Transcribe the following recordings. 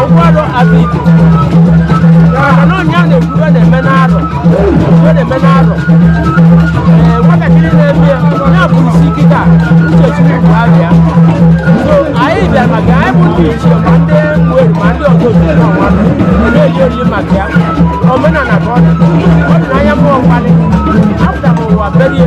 ọgụ arọ azụ ite maka na ọ nya na-ekwu ive na-eme n'arọ ive na-eme n'arọ ee nwatakịrị na-eme ya ya bụ isi kịta uche chukwu bụ abịa so anyị bịara maka ya anyị bụ ndị ichie ma ndị mweri ma ndị ọgọ otu na ọnwa na-eji oriri maka ya omenala ka ọ dị ọ dị n'anya mmụọ mkpali apụtara ụwa berie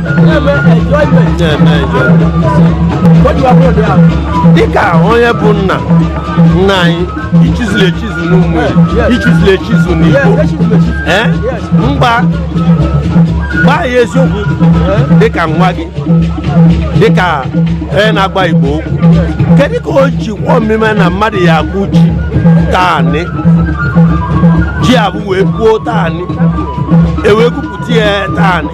dịka onye bụ nna nna anyị i chizuru echizu n'ụmụ i chizuru echizu n'igbo ee mgba gwa anyị eziokwu dịka nwa gị dịka onye na-agwa igbo okwu kedu ka o ji kwe omume na mmadụ ya-akụ ji taanị ji avụ wee puo taanị ewee gwupụta ya taanị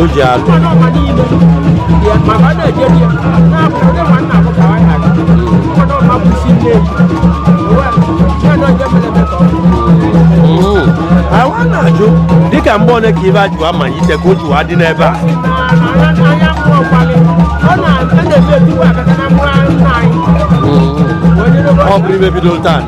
o ji atụ Mm. awa na-ajụ dịka mgbe ole ka ive a ji wa malite ka o ji wa dị n'ebe a ọ bụrọ ive bidoro taa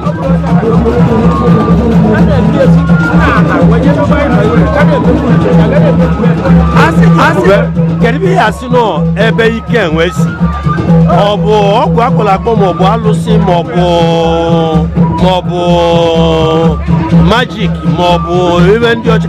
kedu ihe ị ya-asị na ọ ebe ike enwe si ọ bụ ọgwụ akpọrọ akpọ maọbụ alụsị maọbụ magic maọbụ ive ndị ọcha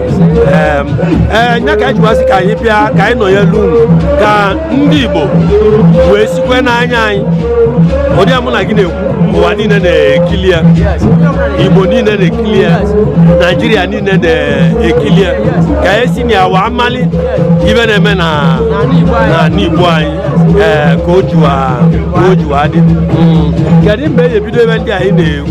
ee nya ka anyị jiwa sị ka anyị bịa ka anyị nọnyelu unu ka ndị Igbo wee sikwe n'anya anyị ụdị a mụ na gị na-ekwu ụwa niile na-ekili ya Igbo niile na-ekili ya Naijiria niile na-ekili ya ka anyị si na ya wa mali ive na-eme na Igbo anyị ee ka o jiwa dị hmm. kedu mgbe e bido ive ndị a anyị na-ekwu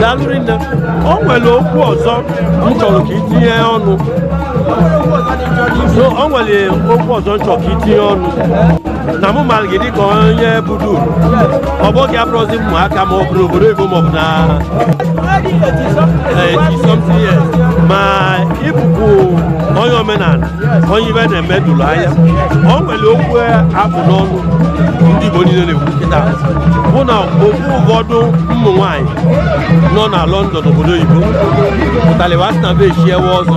daalụ rinne o nwere okwu ọzọ m chọrọ ka i tinye ọnụ So, o nwere okwu ọzọ m chọrọ ka i tinye ọnụ na mụ mara gị dịka onye budu ọ bụ oge abụrọzi ụmụaka ma ọ bụ n'obodo oyibo ma ọ bụ na isọmti ya ma ị bụkwu onye omenala onye ive na-eme doro anya o nwere okwu avụ n'ọnụ ndị Igbo niile na-ekwu kịta bụ na okwu ụfọdụ ụmụ nwanyị nọ na London obodo oyibo pụtara wee sị na ve echiewe ọzọ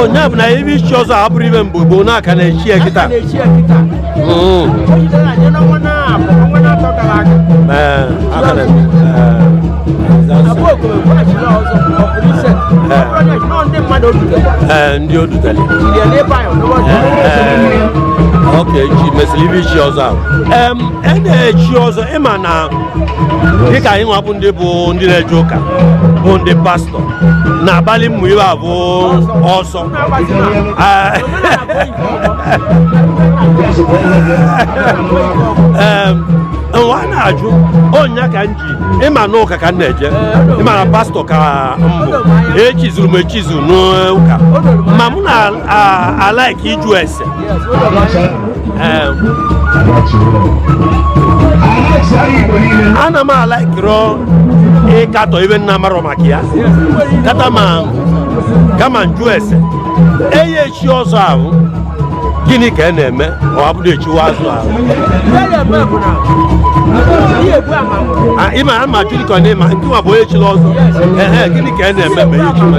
ọ nya bụ na ebe ichi ọzọ ahụ bụrụ ibe mgbe gboo na a ka na-echi ya kịta ndị odutali ok ji mesịrị ibe ichi ọzọ ahụ em e na-echi ọzọ ị ma na dịka anyị nwa bụ ndị bụ ndị na-eje ụka bụ ndị pastọ na-agbalị ụmụ ibe ahụ ọsọ nwa na-ajụ ọ nya ka m ji ị ma na ụka ka m na-eje ị ma na pastọ ka m bụ echizuru m echizu n'ụka ma mụ na-alaiki ịjụ ese ana m alaikirọ ịkatọ ibe m na-amarọ maka ya kama m jụ ese eye echi ọzọ ahụ gịnị ka ị na-eme ọ bụrụ e chiwe ọzọ ahụ Ah, ịma ha ma jụrụ ka ọ na-ema nke nwa bụ onye chiri ọzọ ehe gịnị ka ị na-eme ma ihe chiri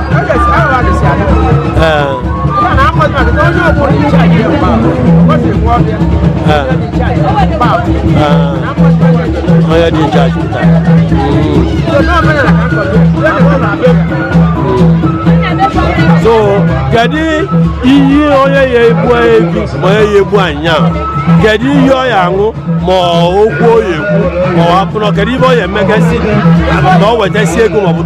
onye dị in charge so kedu iyi onye ya egbu ebi ma onye ya egbu anyịnya kedu iyi ọ ya aṅụ ma okwu o ya ekwu ma ọ hapụ na kedu ibe ọ ya emegasị ma o wetasị ego ma ọ bụ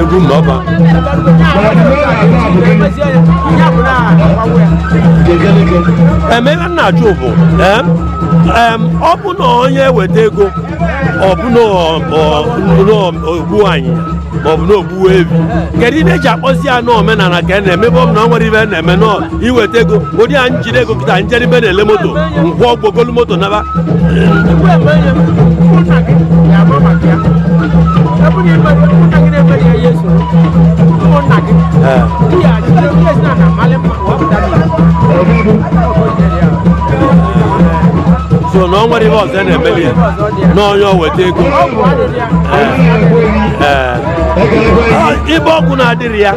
egwu m na ọba emela m na-ajụ bụ em, em, ọ bụ na onye weta ego ọ bụ na ọ- ọ- ọ- o gbuo anyịnya ma ọ bụ na o gbuo ebi kedu ihe e ji akpọzi ya n'omenala ka a na-eme ebe ọ bụ na ọ nwere ibe a na-eme n'ọ iweta ego ụdị a m jide ego kịta m jere ibe a na-ele moto ngwa ọ bụ golu moto naba so na ọ nwere ihe ọzọ na-emeli ya na onye weta ego ibe ọgwụ na-adịrị ya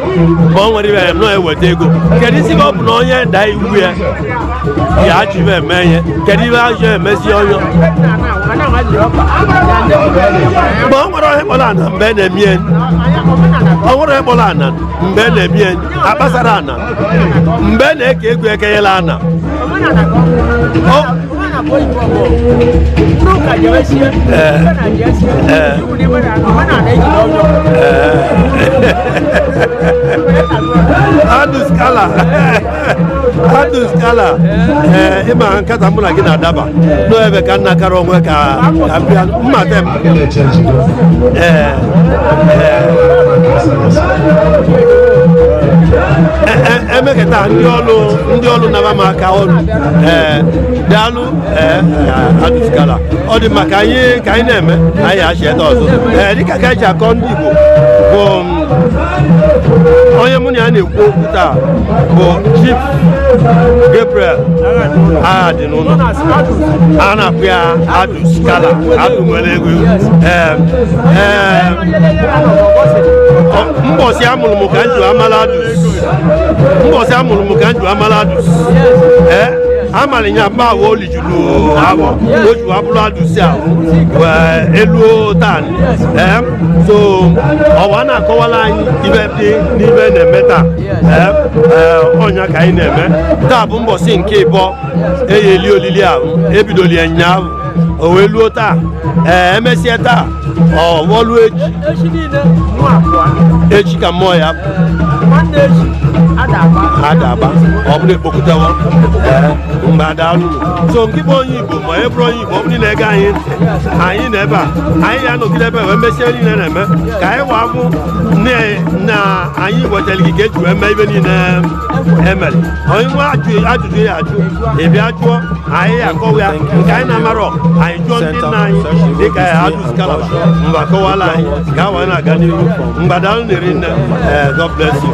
ma ọ nwere ibe ya nọ eweta ego kedu isi ka ọ bụ na onye daa iwu ya ya achọ ive eme ihe kedu ive achọ emezi onye ma ọ nwere onye kpọrọ ana mgbe a na-eme ya ọ nwere onye kpọrọ ana mgbe a na-eme ya akpasara ana mgbe a na-eke ego ekenyela ana Adus Kala Adus Kala ị ma nkata mụ na gị na-adaba n'ebe ka nna kara o wee ka abịa mma emeketa ndị ọrụ ndị ọrụ naba m aka ọrụ ee daalụ ee Adus Kala ọ dị mma ka anyị ka anyị na-eme anyị achị ede ọzọ ee dịka ka anyị ji akọ ndị Igbo bụ onye mụ na ya na-ekwu okwu taa bụ Chief Gabriel Aghadi a na-akpọ ya Adus Kala Adus nwere ego mbọsị amụrụ m ka m ji amala Adus mbọsị amụrụ m ka m ji amala Adus amara ya mma ahụ o lijuru avọ o ju abụrụ Adus ahụ wee luo taa so ọwa na-akọwara anyị ive dị n'ive na-eme taa ọnya ka anyị na-eme taa bụ mbọsị nke ịbọọ eji eli olili ahụ ebidoli ya nyaahụ o wee luo taa ee emesịa taa ọ wọluo echi echi ka mmụọ ya ada agba ọ bụrụ e kpokọtawa mgbe ada alụrụ so nke bụ onye igbo ma e bụrụ onye ma ọ bụ niile ege anyị ntị anyị nọ ebe a anyị ya anọgide ebe wee mesie niile na-eme ka anyị wee vụ na anyị wetara gị ka eji wee mee ive niile emere onye nwe ajụjụ ya ajụ ị bịa jụọ anyị ya akọwa ya nke anyị na-amarọ anyị jụọ ndị nna anyị dịka Adus Kala va mgbe akọwala anyị ka a wee na-aga n'ihu mgbada nri nne eh, God bless you